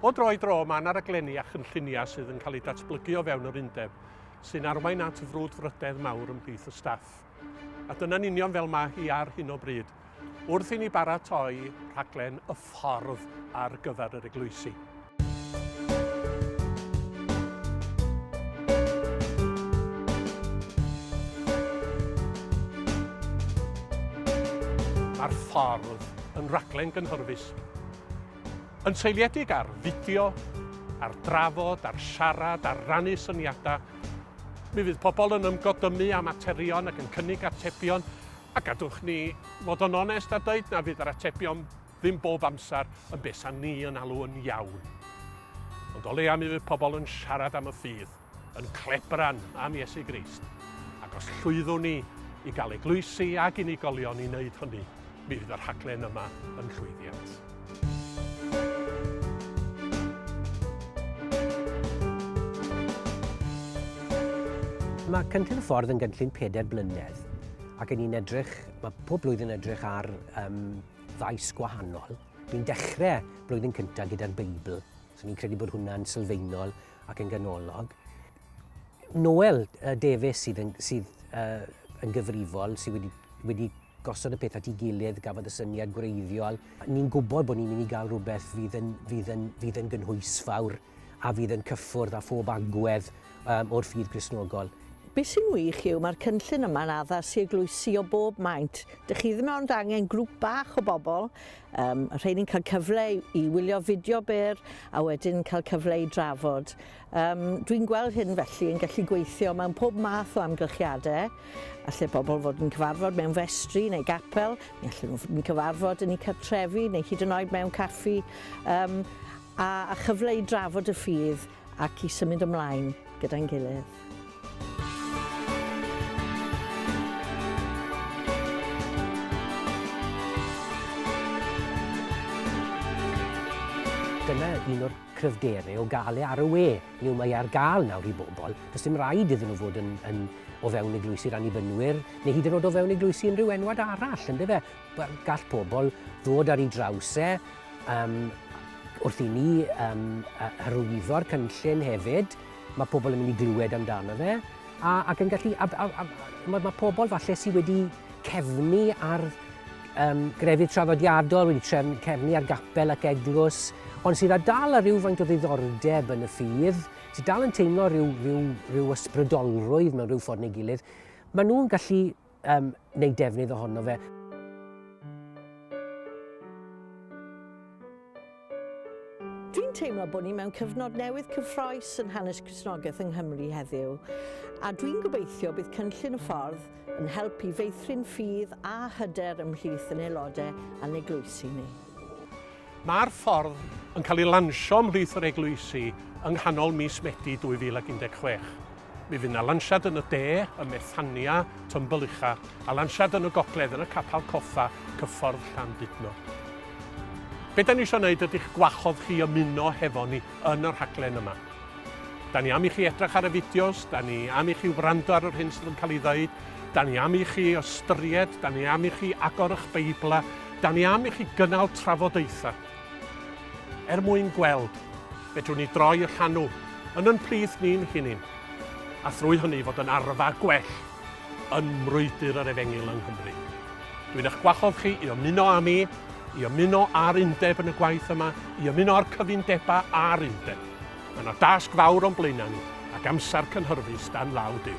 O dro i dro, mae yna raglenni a chynlluniau sydd yn cael eu datblygu o fewn yr undeb, sy'n arwain at frwdfrydedd mawr ymhlith y staff. A dyna'n union fel mae hi ar hyn o bryd, wrth i ni baratoi rhaglen y ffordd ar gyfer yr eglwysi. Mae'r ffordd yn raglen gynhyrfus, yn seiliedig ar fideo, ar drafod, ar siarad, ar rannu syniadau, Mi fydd pobl yn ymgodymu â materion ac yn cynnig atebion, a gadwch ni fod yn onest a dweud na fydd yr atebion ddim bob amser yn beth sa'n ni yn alw yn iawn. Ond o leia mi fydd pobl yn siarad am y ffydd, yn clebran am Iesu Grist. Ac os llwyddwn ni i gael eglwysi ac unigolion i wneud hynny, mi fydd y rhaglen yma yn llwyddiant. Mae Cynllun y Ffordd yn gynllun pedair blynedd ac yn ni'n edrych, mae pob blwyddyn edrych ar um, ddaes gwahanol. Ni'n dechrau blwyddyn cyntaf gyda'r Beibl, so ni'n credu bod hwnna'n sylfaenol ac yn ganolog. Noel uh, Davies sydd, yn, sydd uh, yn gyfrifol, sydd wedi, wedi gosod y peth at ei gilydd, gafodd y syniad gwreiddiol. Ni'n gwybod bod ni'n mynd i gael rhywbeth fydd yn, fydd yn, fydd yn gynhwysfawr a fydd yn cyffwrdd â phob agwedd um, o'r ffydd Gristnogol. Be sy'n wych yw mae'r cynllun yma'n addas i eglwysi o bob maint. Dych chi ddim ond angen grŵp bach o bobl, um, rhai'n cael cyfle i wylio fideo byr a wedyn cael cyfle i drafod. Yym, dwi'n gweld hyn felly yn gallu gweithio mewn pob math o amgylchiadau. Alle pobl fod yn cyfarfod mewn festri neu gapel, neu allen nhw fod yn cyfarfod yn eu cartrefi neu hyd yn oed mewn caffi, um, a, a chyfle i drafod y ffydd ac i symud ymlaen gyda'n gilydd. Dyna un o'r cryfderau o gael e ar y we. Hynny yw, mae e ar gael nawr i bobl. Does dim rhaid iddyn nhw fod yn, yn o fewn eglwysi'r annibynwyr, neu hyd yn oed o fewn eglwysi unrhyw enwad arall, ynddo fe? Gall pobl ddod ar ei draws e, um, wrth i ni um, hyrwyddo'r cynllun hefyd, mae pobl yn mynd i glywed amdano fe, A, ac yn gallu... A, a, a, mae, mae pobl falle sydd wedi cefnu ar um, grefydd traddodiadol, wedi trefn, cefnu ar gapel ac eglwys, ond sydd â dal ar ryw faint o ddiddordeb yn y ffydd, sydd dal yn teimlo rhyw, rhyw, rhyw ysbrydolrwydd mewn rhyw ffordd neu gilydd, maen nhw'n gallu um, neu defnydd ohono fe. Dwi'n teimlo bod ni mewn cyfnod newydd cyffroes yn hanes Cresnogaeth yng Nghymru heddiw, a dwi'n gobeithio bydd cynllun y ffordd yn helpu feithrin ffydd a hyder ymhlith yn aelodau a'n eglwysi ni. Mae'r ffordd yn cael ei lansio ymhlith yr eglwysi yng nghanol mis Medi 2016. Mi fydd 'na lansiad yn y de, ym Methania, Tymbyllicha, a lansiad yn y gogledd yn y Capal Cofa, Cyffordd Llandudno. Be da ni eisiau gwneud ydy'ch gwahodd chi ymuno hefo ni yn y rhaglen yma. Da ni am i chi edrych ar y fideos, da ni am i chi wrando ar yr hyn sydd yn cael ei ddweud, da ni am i chi ystyried, da ni am i chi agor eich Beiblau, da ni am i chi gynnal trafodaethau. Er mwyn gweld, fedrwn ni droi y llanw yn yn plith ni'n hunin, a thrwy hynny fod yn arfa gwell yn mrwydr yr Efengyl yng Nghymru. Dwi'n eich gwahodd chi i ymuno â mi, i ymuno â'r undeb yn y gwaith yma, i ymuno â'r cyfundebau a'r undeb. Mae yna dasg fawr o'n blaenau ni, ac amser cynhyrfus dan law Duw.